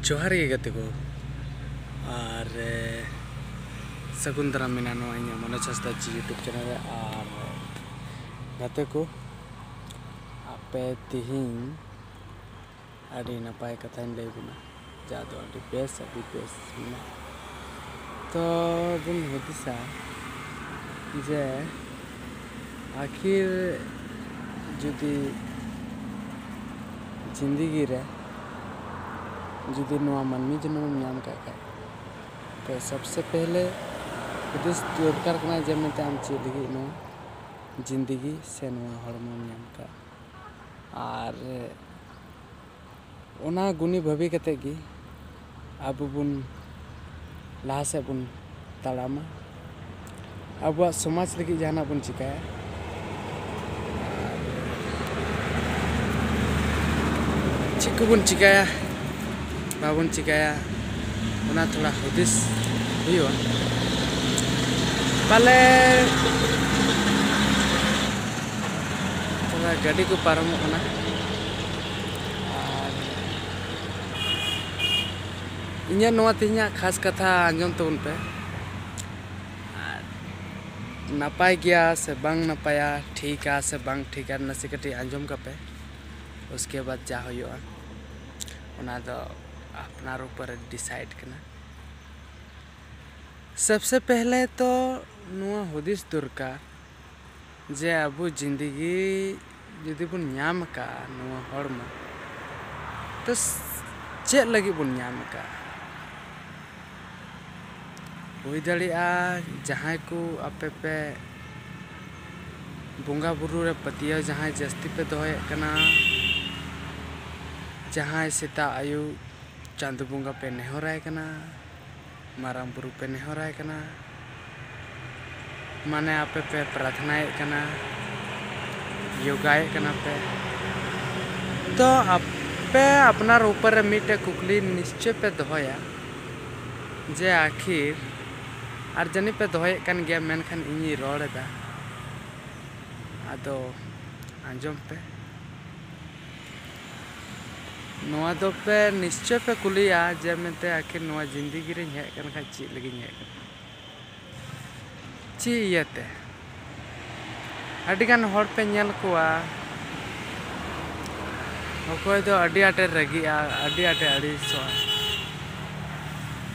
ᱡᱚᱦᱟᱨ ᱜᱮ ᱜᱟᱛᱮ ᱠᱚ ᱟᱨ ᱥᱟᱹᱜᱩᱱ ᱫᱟᱨᱟᱢ ᱢᱮᱱᱟᱜᱼᱟ ᱱᱚᱣᱟ ᱤᱧᱟᱹᱜ ᱢᱚᱱᱳᱡᱽ ᱦᱟᱸᱥᱫᱟ ᱡᱤ ᱤᱭᱩᱴᱩᱵᱽ ᱪᱮᱱᱮᱞ ᱨᱮ ᱟᱨ ᱜᱟᱛᱮ ᱠᱚ ᱟᱯᱮ ᱛᱤᱦᱤᱧ ᱟᱹᱰᱤ ᱱᱟᱯᱟᱭ ᱠᱟᱛᱷᱟᱧ ᱞᱟᱹᱭ ᱟᱵᱚᱱᱟ ᱪᱟ ᱫᱚ ᱟᱹᱰᱤ ᱵᱮᱥ ᱟᱹᱰᱤ ᱵᱮᱥ ᱢᱮᱱᱟᱜᱼᱟ ᱛᱚ ᱵᱚᱱ ᱦᱩᱫᱤᱥᱟ ᱡᱮ ᱟᱹᱠᱷᱤᱨ ᱡᱩᱫᱤ ᱡᱤᱱᱫᱮᱜᱤ ᱨᱮ ᱡᱩᱫᱤ ᱱᱚᱣᱟ ᱢᱟᱹᱱᱢᱤ ᱡᱚᱱᱚᱢ ᱮᱢ ᱧᱟᱢ ᱠᱟᱜ ᱠᱷᱟᱡ ᱛᱚ ᱥᱚᱵᱥᱮ ᱯᱮᱦᱞᱮ ᱦᱩᱫᱤᱥ ᱫᱚᱨᱠᱟᱨ ᱠᱟᱱᱟ ᱡᱮ ᱢᱮᱱᱛᱮ ᱟᱢ ᱪᱮᱫ ᱞᱟᱹᱜᱤᱫ ᱱᱚᱣᱟ ᱡᱤᱱᱫᱮᱜᱤ ᱥᱮ ᱱᱚᱣᱟ ᱦᱚᱲᱢᱚᱢ ᱧᱟᱢ ᱠᱟᱜ ᱟᱨ ᱚᱱᱟ ᱜᱩᱱᱤ ᱵᱷᱟᱹᱵᱤ ᱠᱟᱛᱮ ᱜᱮ ᱟᱵᱚ ᱵᱚᱱ ᱞᱟᱦᱟ ᱥᱮᱫ ᱵᱚᱱ ᱛᱟᱲᱟᱢᱟ ᱟᱵᱚᱣᱟᱜ ᱥᱚᱢᱟᱡᱽ ᱞᱟᱹᱜᱤᱫ ᱡᱟᱦᱟᱱᱟᱜ ᱵᱚᱱ ᱪᱤᱠᱟᱹᱭᱟ ᱪᱮᱫ ᱠᱚᱵᱚᱱ ᱪᱤᱠᱟᱹᱭᱟ ᱵᱟᱵᱚᱱ ᱪᱤᱠᱟᱹᱭᱟ ᱚᱱᱟ ᱛᱷᱚᱲᱟ ᱦᱩᱫᱤᱥ ᱦᱩᱭᱩᱜᱼᱟ ᱯᱟᱞᱮ ᱛᱷᱚᱲᱟ ᱜᱟᱹᱰᱤ ᱠᱚ ᱯᱟᱨᱚᱢᱚᱜ ᱠᱟᱱᱟ ᱟᱨ ᱤᱧᱟᱹᱜ ᱱᱚᱣᱟ ᱛᱮᱦᱮᱧᱟᱜ ᱠᱷᱟᱥ ᱠᱟᱛᱷᱟ ᱟᱸᱡᱚᱢ ᱛᱟᱵᱚᱱ ᱯᱮ ᱟᱨ ᱱᱟᱯᱟᱭ ᱜᱮᱭᱟ ᱥᱮ ᱵᱟᱝ ᱱᱟᱯᱟᱭᱟ ᱴᱷᱤᱠᱟ ᱥᱮ ᱵᱟᱝ ᱴᱷᱤᱠᱟ ᱱᱟᱥᱮ ᱠᱟᱹᱴᱤᱡ ᱟᱸᱡᱚᱢ ᱠᱟᱯᱮ ᱩᱥᱠᱮ ᱵᱟᱫ ᱡᱟ ᱦᱩᱭᱩᱜᱼᱟ ᱚᱱᱟ ᱫᱚ ᱟᱯᱱᱟᱨ ᱩᱯᱚᱨᱮ ᱰᱤᱥᱟᱭᱤᱰ ᱠᱟᱱᱟ ᱥᱚᱵᱥᱮ ᱯᱮᱦᱞᱮ ᱛᱚ ᱱᱚᱣᱟ ᱦᱩᱫᱤᱥ ᱫᱚᱨᱠᱟᱨ ᱡᱮ ᱟᱵᱚ ᱡᱤᱱᱫᱮᱜᱤ ᱡᱩᱫᱤ ᱵᱚᱱ ᱧᱟᱢ ᱟᱠᱟᱫᱼᱟ ᱱᱚᱣᱟ ᱦᱚᱲᱢᱚ ᱛᱚ ᱪᱮᱫ ᱞᱟᱹᱜᱤᱫ ᱵᱚᱱ ᱧᱟᱢ ᱟᱠᱟᱫᱼᱟ ᱦᱩᱭ ᱫᱟᱲᱮᱭᱟᱜᱼᱟ ᱡᱟᱦᱟᱸᱭ ᱠᱚ ᱟᱯᱮ ᱯᱮ ᱵᱚᱸᱜᱟ ᱵᱩᱨᱩ ᱨᱮ ᱯᱟᱹᱛᱭᱟᱹᱣ ᱡᱟᱦᱟᱸᱭ ᱡᱟᱹᱥᱛᱤ ᱯᱮ ᱫᱚᱦᱚᱭᱮᱫ ᱠᱟᱱᱟ ᱡᱟᱦᱟᱸᱭ ᱥᱮᱛᱟᱜ ᱟᱹᱭᱩᱵ ᱪᱟᱸᱫᱚ ᱵᱚᱸᱜᱟ ᱯᱮ ᱱᱮᱦᱚᱨᱟᱭ ᱠᱟᱱᱟ ᱢᱟᱨᱟᱝ ᱵᱩᱨᱩ ᱯᱮ ᱱᱮᱦᱚᱨᱟᱭ ᱠᱟᱱᱟ᱾ ᱢᱟᱱᱮ ᱟᱯᱮ ᱯᱮ ᱯᱨᱟᱨᱛᱷᱱᱟᱭᱮᱫ ᱠᱟᱱᱟ, ᱭᱳᱜᱟᱭᱮᱫ ᱠᱟᱱᱟ ᱯᱮ᱾ ᱛᱚ ᱟᱯᱮ ᱟᱯᱱᱟᱨ ᱩᱯᱚᱨ ᱨᱮ ᱢᱤᱫᱴᱮᱱ ᱠᱩᱠᱞᱤ ᱱᱤᱥᱪᱚᱭ ᱯᱮ ᱫᱚᱦᱚᱭᱟ ᱡᱮ ᱟᱹᱠᱷᱤᱨ, ᱟᱨ ᱡᱟᱹᱱᱤᱡ ᱯᱮ ᱫᱚᱦᱚᱭᱮᱫ ᱠᱟᱱ ᱜᱮᱭᱟ, ᱢᱮᱱᱠᱷᱟᱱ ᱤᱧᱤᱧ ᱨᱚᱲ ᱮᱫᱟ, ᱟᱫᱚ ᱟᱸᱡᱚᱢ ᱯᱮ᱾ ᱱᱚᱣᱟ ᱫᱚ ᱯᱮ ᱱᱤᱥᱪᱚᱭ ᱯᱮ ᱠᱩᱞᱤᱭᱟ ᱡᱮ ᱢᱮᱱᱛᱮ ᱟᱹᱠᱷᱤᱨ ᱱᱚᱣᱟ ᱡᱤᱱᱫᱮᱜᱤ ᱨᱮᱧ ᱦᱮᱡ ᱟᱠᱟᱱ ᱠᱷᱟᱱ ᱪᱮᱫ ᱞᱟᱹᱜᱤᱫ ᱤᱧ ᱦᱮᱡ ᱟᱠᱟᱱᱟ ᱪᱮᱫ ᱤᱭᱟᱹᱛᱮ ᱟᱹᱰᱤ ᱜᱟᱱ ᱦᱚᱲ ᱯᱮ ᱧᱮᱞ ᱠᱚᱣᱟ ᱚᱠᱚᱭ ᱫᱚ ᱟᱹᱰᱤ ᱟᱸᱴᱮ ᱨᱟᱹᱜᱤᱜᱼᱟ ᱟᱹᱰᱤ ᱟᱸᱴᱮ ᱟᱹᱲᱤᱥᱚᱜᱼᱟ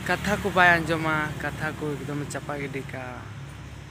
ᱠᱟᱛᱷᱟ ᱠᱚ ᱵᱟᱭ ᱟᱸᱡᱚᱢᱟ ᱠᱟᱛᱷᱟ ᱠᱚ ᱮᱠᱫᱚᱢᱮ ᱪᱟᱯᱟ ᱜᱤᱰᱤ ᱠᱟᱜᱼᱟ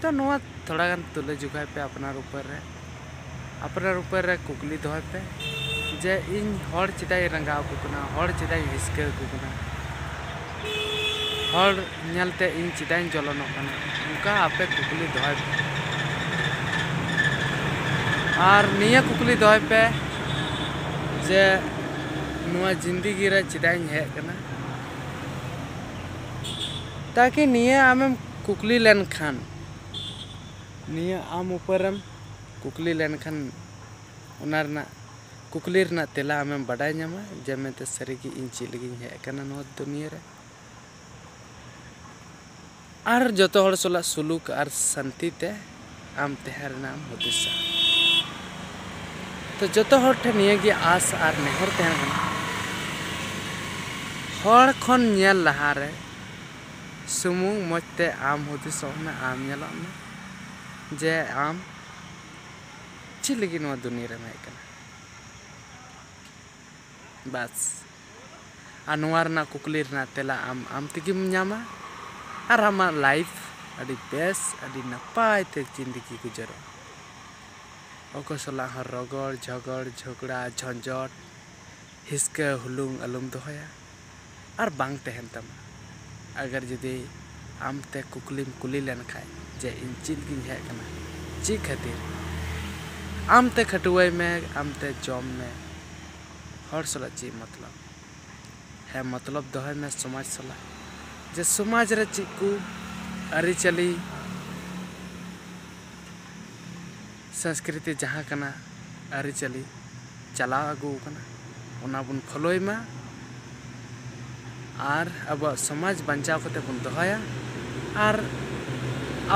ᱛᱚ ᱱᱚᱣᱟ ᱛᱷᱚᱲᱟ ᱜᱟᱱ ᱛᱩᱞᱟᱹ ᱡᱚᱠᱷᱟᱭ ᱯᱮ ᱟᱯᱱᱟᱨ ᱩᱯᱟᱹᱨ ᱨᱮ ᱟᱯᱱᱟᱨ ᱩᱯᱟᱹᱨ ᱨᱮ ᱠᱩᱠᱞᱤ ᱫᱚᱦᱚᱭ ᱯᱮ ᱡᱮ ᱤᱧ ᱦᱚᱲ ᱪᱮᱫᱟᱜ ᱤᱧ ᱨᱟᱸᱜᱟᱣ ᱟᱠᱚ ᱠᱟᱱᱟ ᱦᱚᱲ ᱪᱮᱫᱟᱜ ᱤᱧ ᱦᱤᱥᱠᱟᱹ ᱟᱠᱚ ᱠᱟᱱᱟ ᱦᱚᱲ ᱧᱮᱞ ᱛᱮ ᱤᱧ ᱪᱮᱫᱟᱜ ᱤᱧ ᱡᱚᱞᱚᱱᱚᱜ ᱠᱟᱱᱟ ᱚᱱᱠᱟ ᱟᱯᱮ ᱠᱩᱠᱞᱤ ᱫᱚᱦᱚᱭ ᱯᱮ ᱟᱨ ᱱᱤᱭᱟᱹ ᱠᱩᱠᱞᱤ ᱫᱚᱦᱚᱭ ᱯᱮ ᱡᱮ ᱱᱚᱣᱟ ᱡᱤᱱᱫᱮᱜᱤ ᱨᱮ ᱪᱮᱫᱟᱜ ᱤᱧ ᱦᱮᱡ ᱟᱠᱟᱱᱟ ᱛᱟᱠᱤ ᱱᱤᱭᱟᱹ ᱟᱢᱮᱢ ᱠᱩᱠᱞᱤ ᱞᱮᱱ ᱠᱷᱟᱱ ᱱᱤᱭᱟᱹ ᱟᱢ ᱩᱯᱟᱹᱨ ᱮᱢ ᱠᱩᱠᱞᱤ ᱞᱮᱱ ᱠᱷᱟᱱ ᱚᱱᱟ ᱨᱮᱱᱟᱜ ᱠᱩᱠᱞᱤ ᱨᱮᱱᱟᱜ ᱛᱮᱞᱟ ᱟᱢᱮᱢ ᱵᱟᱰᱟᱭ ᱧᱟᱢᱟ ᱡᱮ ᱢᱮᱱᱛᱮ ᱥᱟᱹᱨᱤ ᱜᱮ ᱤᱧ ᱪᱮᱫ ᱞᱟᱹᱜᱤᱫ ᱤᱧ ᱦᱮᱡ ᱟᱠᱟᱱᱟ ᱱᱚᱣᱟ ᱫᱩᱱᱤᱭᱟᱹ ᱨᱮ ᱟᱨ ᱡᱚᱛᱚ ᱦᱚᱲ ᱥᱟᱞᱟᱜ ᱥᱩᱞᱩᱠ ᱟᱨ ᱥᱟᱱᱛᱤ ᱛᱮ ᱟᱢ ᱛᱟᱦᱮᱸ ᱨᱮᱱᱟᱜ ᱮᱢ ᱦᱩᱫᱤᱥᱟ ᱛᱚ ᱡᱚᱛᱚ ᱦᱚᱲ ᱴᱷᱮᱱ ᱱᱤᱭᱟᱹ ᱜᱮ ᱟᱥ ᱟᱨ ᱱᱮᱦᱚᱨ ᱛᱟᱦᱮᱱ ᱠᱟᱱᱟ ᱦᱚᱲ ᱠᱷᱚᱱ ᱧᱮᱞ ᱞᱟᱦᱟ ᱨᱮ ᱥᱩᱢᱩᱝ ᱢᱚᱡᱽ ᱛᱮ ᱟᱢ ᱦᱩᱫᱤᱥᱚᱜ ᱢᱮ ᱟᱢ ᱧᱮᱞᱚᱜ ᱢᱮ ᱡᱮ ᱟᱢ ᱪᱮᱫ ᱞᱟᱹᱜᱤᱫ ᱱᱚᱣᱟ ᱫᱩᱱᱤᱭᱟᱹ ᱨᱮᱢ ᱦᱮᱡ ᱟᱠᱟᱱᱟ ᱵᱟᱥ ᱟᱨ ᱱᱚᱣᱟ ᱨᱮᱱᱟᱜ ᱠᱩᱠᱞᱤ ᱨᱮᱱᱟᱜ ᱛᱮᱞᱟ ᱟᱢ ᱟᱢ ᱛᱮᱜᱮᱢ ᱧᱟᱢᱟ ᱟᱨ ᱟᱢᱟᱜ ᱞᱟᱭᱤᱯᱷ ᱟᱹᱰᱤ ᱵᱮᱥ ᱟᱹᱰᱤ ᱱᱟᱯᱟᱭ ᱛᱮ ᱡᱤᱱᱫᱮᱜᱤ ᱜᱩᱡᱟᱹᱨᱚᱜᱼᱟ ᱚᱠᱚᱭ ᱥᱟᱞᱟᱜ ᱦᱚᱸ ᱨᱚᱜᱚᱲ ᱡᱷᱚᱜᱚᱲ ᱡᱷᱚᱜᱽᱲᱟ ᱡᱷᱚᱸᱡᱚᱴ ᱦᱤᱥᱠᱟᱹ ᱦᱩᱞᱩᱝ ᱟᱞᱚᱢ ᱫᱚᱦᱚᱭᱟ ᱟᱨ ᱵᱟᱝ ᱛᱟᱦᱮᱱ ᱛᱟᱢᱟ ᱟᱜᱟᱨ ᱡᱩᱫᱤ ᱟᱢ ᱛᱮ ᱠᱩᱠᱞᱤᱢ ᱠᱩᱞᱤ ᱞᱮᱱ ᱠᱷᱟᱱ ᱡᱮ ᱤᱧ ᱪᱮᱫ ᱜᱤᱧ ᱦᱮᱡ ᱟᱠᱟᱱᱟ ᱪᱮᱫ ᱠᱷᱟᱹᱛᱤᱨ ᱟᱢ ᱛᱮ ᱠᱷᱟᱹᱴᱣᱟᱹᱭ ᱢᱮ ᱟᱢ ᱛᱮ ᱡᱚᱢ ᱢᱮ ᱦᱚᱲ ᱥᱟᱞᱟᱜ ᱪᱮᱫ ᱢᱚᱛᱞᱚᱵ ᱦᱮᱸ ᱢᱚᱛᱞᱚᱵ ᱫᱚᱦᱚᱭ ᱢᱮ ᱥᱚᱢᱟᱡᱽ ᱥᱟᱞᱟᱜ ᱡᱮ ᱥᱚᱢᱟᱡᱽ ᱨᱮ ᱪᱮᱫ ᱠᱚ ᱟᱹᱨᱤᱪᱟᱹᱞᱤ ᱥᱚᱸᱥᱠᱨᱤᱛᱤ ᱡᱟᱦᱟᱸ ᱠᱟᱱᱟ ᱟᱹᱨᱤᱪᱟᱹᱞᱤ ᱪᱟᱞᱟᱣ ᱟᱹᱜᱩ ᱟᱠᱟᱱᱟ ᱚᱱᱟ ᱵᱚᱱ ᱯᱷᱳᱞᱳᱭ ᱢᱟ ᱟᱨ ᱟᱵᱚᱣᱟᱜ ᱥᱚᱢᱟᱡᱽ ᱵᱟᱧᱪᱟᱣ ᱠᱟᱛᱮ ᱵᱚᱱ ᱫᱚᱦᱚᱭᱟ ᱟᱨ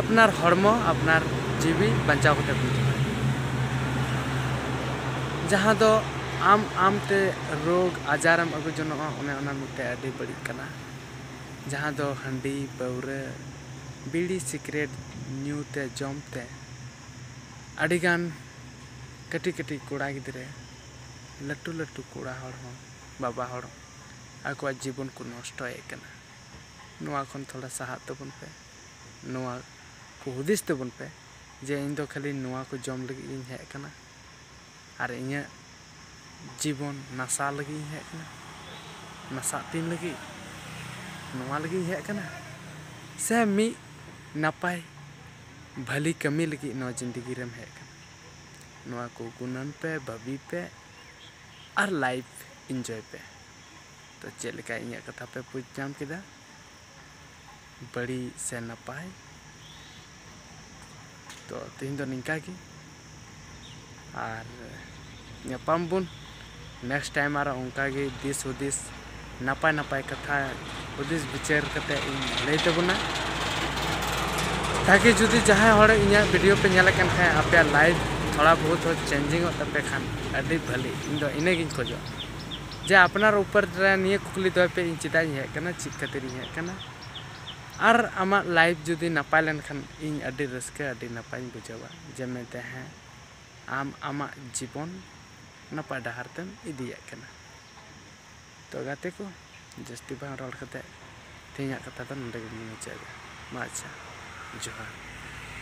ᱟᱯᱱᱟᱨ ᱦᱚᱲᱢᱚ ᱟᱯᱱᱟᱨ ᱡᱤᱣᱤ ᱵᱟᱧᱪᱟᱣ ᱠᱟᱛᱮ ᱵᱚᱱ ᱫᱚᱦᱚᱭᱟ ᱡᱟᱦᱟᱸ ᱫᱚ ᱟᱢ ᱟᱢ ᱛᱮ ᱨᱳᱜᱽ ᱟᱡᱟᱨᱮᱢ ᱟᱹᱜᱩ ᱡᱚᱱᱚᱜᱼᱟ ᱚᱱᱮ ᱚᱱᱟ ᱢᱤᱫᱴᱮᱱ ᱟᱹᱰᱤ ᱵᱟᱹᱲᱤᱡ ᱠᱟᱱᱟ ᱡᱟᱦᱟᱸ ᱫᱚ ᱦᱟᱺᱰᱤ ᱯᱟᱹᱣᱨᱟᱹ ᱵᱤᱲᱤ ᱥᱤᱠᱨᱮᱴ ᱧᱩ ᱛᱮ ᱡᱚᱢ ᱛᱮ ᱟᱹᱰᱤ ᱜᱟᱱ ᱠᱟᱹᱴᱤᱡ ᱠᱟᱹᱴᱤᱡ ᱠᱚᱲᱟ ᱜᱤᱫᱽᱨᱟᱹ ᱞᱟᱹᱴᱩ ᱞᱟᱹᱴᱩ ᱠᱚᱲᱟ ᱦᱚᱲ ᱦᱚᱸ ᱵᱟᱵᱟ ᱦᱚᱲ ᱟᱠᱚᱣᱟᱜ ᱡᱤᱵᱚᱱ ᱠᱚ ᱱᱚᱥᱴᱚᱭᱮᱫ ᱠᱟᱱᱟ ᱱᱚᱣᱟ ᱠᱷᱚᱱ ᱛᱷᱚᱲᱟ ᱥᱟᱦᱟᱜ ᱛᱟᱵᱚᱱ ᱯᱮ ᱱᱚᱣᱟ ᱠᱚ ᱦᱩᱫᱤᱥ ᱛᱟᱵᱚᱱ ᱯᱮ ᱡᱮ ᱤᱧ ᱫᱚ ᱠᱷᱟᱹᱞᱤ ᱱᱚᱣᱟ ᱠᱚ ᱡᱚᱢ ᱞᱟᱹᱜᱤᱫ ᱜᱤᱧ ᱦᱮᱡ ᱠᱟᱱᱟ ᱟᱨ ᱤᱧᱟᱹᱜ ᱡᱤᱵᱚᱱ ᱱᱟᱥᱟᱣ ᱞᱟᱹᱜᱤᱫ ᱤᱧ ᱦᱮᱡ ᱠᱟᱱᱟ ᱱᱟᱥᱟᱜ ᱛᱤᱧ ᱞᱟᱹᱜᱤᱫ ᱱᱚᱣᱟ ᱞᱟᱹᱜᱤᱫ ᱤᱧ ᱦᱮᱡ ᱠᱟᱱᱟ ᱥᱮ ᱢᱤᱫ ᱱᱟᱯᱟᱭ ᱵᱷᱟᱹᱞᱤ ᱠᱟᱹᱢᱤ ᱞᱟᱹᱜᱤᱫ ᱱᱚᱣᱟ ᱡᱤᱱᱫᱮᱜᱤ ᱨᱮᱢ ᱦᱮᱡ ᱠᱟᱱᱟ ᱱᱚᱣᱟ ᱠᱚ ᱜᱩᱱᱟᱹᱱ ᱯᱮ ᱵᱷᱟᱹᱵᱤ ᱯᱮ ᱟᱨ ᱞᱟᱭᱤᱯᱷ ᱤᱱᱡᱚᱭ ᱯᱮ ᱛᱚ ᱪᱮᱫ ᱞᱮᱠᱟ ᱤᱧᱟᱹᱜ ᱠᱟᱛᱷᱟ ᱯᱮ ᱵᱩᱡᱽ ᱧᱟᱢ ᱠᱮᱫᱟ ᱵᱟᱹᱲᱤᱡ ᱥᱮ ᱱᱟᱯᱟᱭ ᱛᱚ ᱛᱮᱦᱮᱧ ᱫᱚ ᱱᱤᱝᱠᱟ ᱜᱮ ᱟᱨ ᱧᱟᱯᱟᱢ ᱵᱚᱱ ᱱᱮᱠᱥᱴ ᱴᱟᱭᱤᱢ ᱟᱨᱚ ᱚᱱᱠᱟ ᱜᱮ ᱫᱤᱥ ᱦᱩᱫᱤᱥ ᱱᱟᱯᱟᱭ ᱱᱟᱯᱟᱭ ᱠᱟᱛᱷᱟ ᱦᱩᱫᱤᱥ ᱵᱤᱪᱟᱹᱨ ᱠᱟᱛᱮ ᱤᱧ ᱞᱟᱹᱭ ᱛᱟᱵᱚᱱᱟ ᱛᱟᱠᱤ ᱡᱩᱫᱤ ᱡᱟᱦᱟᱸᱭ ᱦᱚᱲ ᱤᱧᱟᱹᱜ ᱵᱷᱤᱰᱤᱭᱳ ᱯᱮ ᱧᱮᱞᱮᱫ ᱠᱟᱱ ᱠᱷᱟᱱ ᱟᱯᱮᱭᱟᱜ ᱞᱟᱭᱤᱯᱷ ᱛᱷᱚᱲᱟ ᱵᱚᱦᱩᱛ ᱦᱚᱸ ᱪᱮᱧᱡᱤᱝ ᱚᱜ ᱛᱟᱯᱮ ᱠᱷᱟᱱ ᱟᱹᱰᱤ ᱵᱷᱟᱹᱞᱤ ᱤᱧ ᱫᱚ ᱤᱱᱟᱹ ᱜᱤᱧ ᱠᱷᱚᱡᱚᱜᱼᱟ ᱡᱮ ᱟᱯᱱᱟᱨ ᱩᱯᱚᱨ ᱨᱮ ᱱᱤᱭᱟᱹ ᱠᱩᱠᱞᱤ ᱫᱚᱦᱚᱭ ᱯᱮ ᱤᱧ ᱪᱮᱫᱟᱜ ᱤᱧ ᱦᱮᱡ ᱟᱠᱟᱱᱟ ᱪᱮᱫ ᱠᱷᱟᱹᱛᱤᱨ ᱤᱧ ᱦᱮᱡ ᱟᱠᱟᱱᱟ ᱟᱨ ᱟᱢᱟᱜ ᱞᱟᱭᱤᱯᱷ ᱡᱩᱫᱤ ᱱᱟᱯᱟᱭ ᱞᱮᱱᱠᱷᱟᱱ ᱤᱧ ᱟᱹᱰᱤ ᱨᱟᱹᱥᱠᱟᱹ ᱟᱹᱰᱤ ᱱᱟᱯᱟᱭᱤᱧ ᱵᱩᱡᱷᱟᱹᱣᱟ ᱡᱮ ᱢᱮᱱᱛᱮ ᱦᱮᱸ ᱟᱢ ᱟᱢᱟᱜ ᱡᱤᱵᱚᱱ ᱱᱟᱯᱟᱭ ᱰᱟᱦᱟᱨ ᱛᱮᱢ ᱤᱫᱤᱭᱮᱫ ᱠᱟᱱᱟ ᱛᱚ ᱜᱟᱛᱮ ᱠᱚ ᱡᱟᱹᱥᱛᱤ ᱵᱟᱝ ᱨᱚᱲ ᱠᱟᱛᱮᱫ ᱛᱮᱦᱮᱧᱟᱜ ᱠᱟᱛᱷᱟ ᱫᱚ ᱱᱚᱰᱮ ᱜᱮᱞᱤᱧ ᱢᱩᱪᱟᱹᱫ ᱮᱫᱟ ᱢᱟ ᱟᱪᱪᱷᱟ ᱡᱚᱦᱟᱨ